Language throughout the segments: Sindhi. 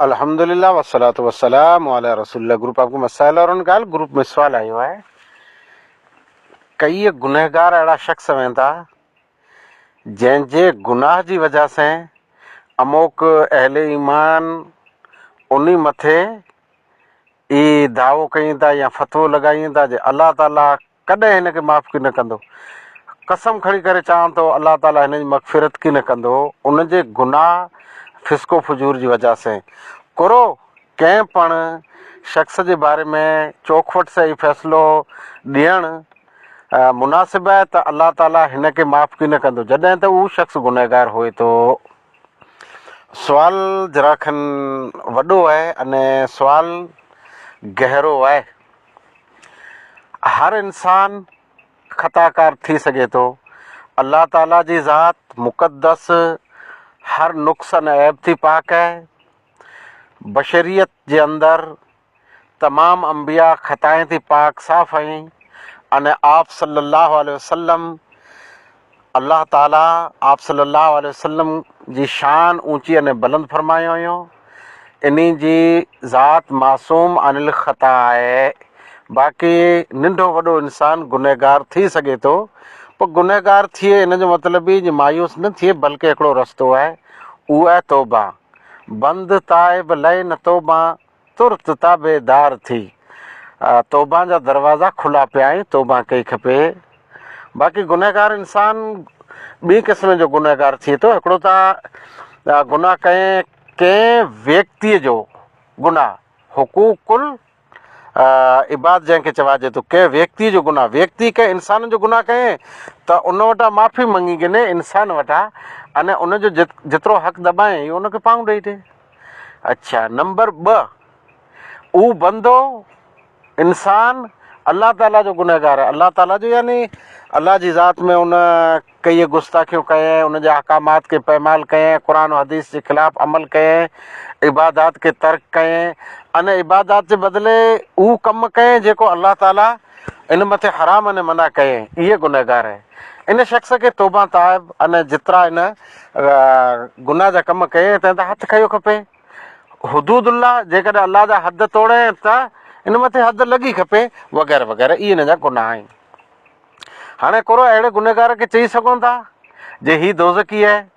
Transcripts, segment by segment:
الحمد لله والصلوة والسلام علي رسول الله گروپ آپ کو مسائل اور ان ڳالھ گروپ ۾ سوال آيو آهي ڪيئي گنهگار اهڙا شخص هوين ٿا جنهن جي گناھ جي وجه سين اموڪ اهل ايمان انهي مٿي اي دعوو ڪيين ٿا يا فتوو لڳائين ٿا جي الله تعالي ڪڏهن هن کي معاف ڪيئن نه ڪندو. قسم کڻي ڪري چوان ٿو الله تعالي هن جي مغفرت ڪيئن نه ڪندو ان جي گناهه فسق و فجور جي وجه سين. ڪرو ڪنهن پڻ شخص جي باري ۾ چوکوٽ سين هي فيصلو ڏيڻ مناسب آهي ته الله تعالي هن کي معاف ڪيئن نه ڪندو جڏهن ته اهو شخص گنهگار هئي ٿو. سوال ذرا کن وڏو آهي اني سوال گهرو آهي. هر انسان خطا ڪار ٿي سگهي ٿو. الله تعاليٰ جي ذات مقدس هر نقص ۽ عيب ٿي پاڪ آهي. بشريت جي اندر تمام انبياء خطائن ٿي پاڪ صاف ۽ ان آپ صلّي اللّٰه عليه وسلّم الله تعاليٰ آپ صلّي اللّٰه عليه وسلّم جي شان اوچي ۽ بلند فرمايو هيو، انهي جي ذات معصوم عن الخطا آهي، باقي ننڍو وڏو انسان گنهگار ٿي سگهي ٿو، پر گنهگار ٿئي ان جو مطلب هي جو مايوس نه ٿئي بلڪه هڪڙو رستو آهي اهو آهي توبه، بند تائب لئي نه توبان. ترت تابعدار ٿي توبان جا دروازا کلا پيا ۽ توبان ڪئي کپي باقي گنهگار انسان ٻئي قسم جو گنهگار ٿئي ٿو هڪڙو ته گناهه ڪئين ڪنهن ويڪتي جو گناهه حقوق ال عباد جنهن کي چوائجي ٿو ڪنهن ويڪتي جو گناهه ويڪتي ڪنهن انسان جو گناهه ڪئين ته ان وٽان معافي مڱي گنهه انسان وٽان ان ان جو جيترو حق دٻائين اهو ان کي پاهون ڏئي ڏي اڇا نمبر ٻه اھو بندو انسان الله تعالي جو گنهگار آهي الله تعالي جو يعني الله جي ذات ۾ ان ڪيئي گستاخيون ڪيئي ان جا احڪامات کي پيمال ڪيئي قرآن و حديث جي خلاف عمل ڪيئي عبادات کي ترڪ ڪيئي ان عبادات جي بدلي اھو ڪم ڪيئي جيڪو الله تعالي ان مٿي حرام ۽ منع ڪئي اهي گنهگار ان شخص کي توبه تائب ۽ جيترا ان گناهه جا ڪم ڪئي تنهن تان هٿ کنيو کپي حدود الله جيڪڏهن الله جا حد توڙي ته ان مٿي حد لڳي کپي وغيره وغيره اهي ان جا گناهه آهن هاڻي ڪورو اهڙي گنهگار کي چئي سگهون ٿا جي هي دوزخي آهي.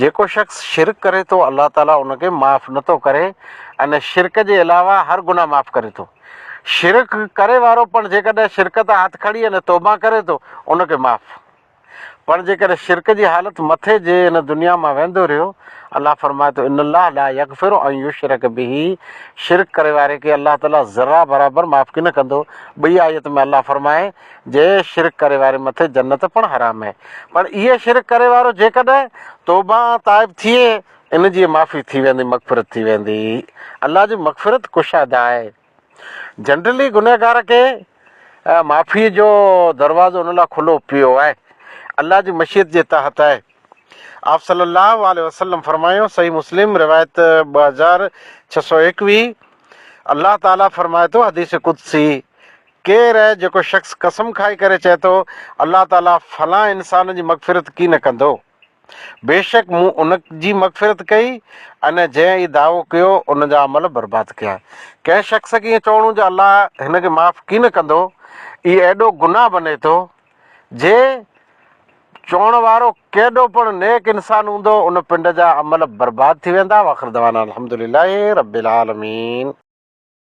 جيڪو شخص شرڪ ڪري ٿو الله تعالي ان کي معاف نه ٿو ڪري ان شرڪ جي علاوه هر گناهه معاف ڪري ٿو شرڪ ڪري وارو پڻ جيڪڏهن شرڪ تان هٿ کڻي ان توبه ڪري ٿو ان کي معاف پڻ جيڪڏهن شرڪ جي حالت مٿي جي ان دنيا مان ويندو رهيو الله فرمائي ٿو ان الله لا يغفر ان يشرڪ به شرڪ ڪري واري کي الله تعالي ذرا برابر معاف ڪي نه ڪندو ٻئي آيت ۾ الله فرمائي جي شرڪ ڪري واري مٿي جنت پڻ حرام اهي پر اهي شرڪ ڪري وارو جيڪڏهن توبه ۽ تائب ٿئي ان جي معافي ٿي ويندي مغفرت ٿي ويندي الله جي مغفرت ڪشاده آهي جنرلي گنهگار کي معافي جو دروازو ان لاء کلو پيو آهي الله جي مشيت جي تحت آهي آپ صلي الله عليه وسلم فرمايو صحيح مسلم روايت ٻه هزار ڇهه سؤ ايڪويهه الله تعالي فرمائي ٿو حديث قدسي ڪير اهي جيڪو شخص قسم کائي ڪري چئي ٿو، الله تعاليٰ فلان انسان جي مغفرت ڪي نه ڪندو؟ بيشڪ مون ان جي مغفرت ڪئي ۽ جنهن اهي دعوو ڪيو ان جا عمل برباد ڪيا. ڪنهن شخص کي ائين چوڻو جو الله هن کي معاف ڪي نه ڪندو، اهي ايڏو گناهه بني ٿو، جي چوڻ وارو ڪيڏو پڻ نيڪ انسان هوندو ان پنڊ جا عمل برباد ٿي ويندا واخر دعوانا الحمدلله رب العالمين.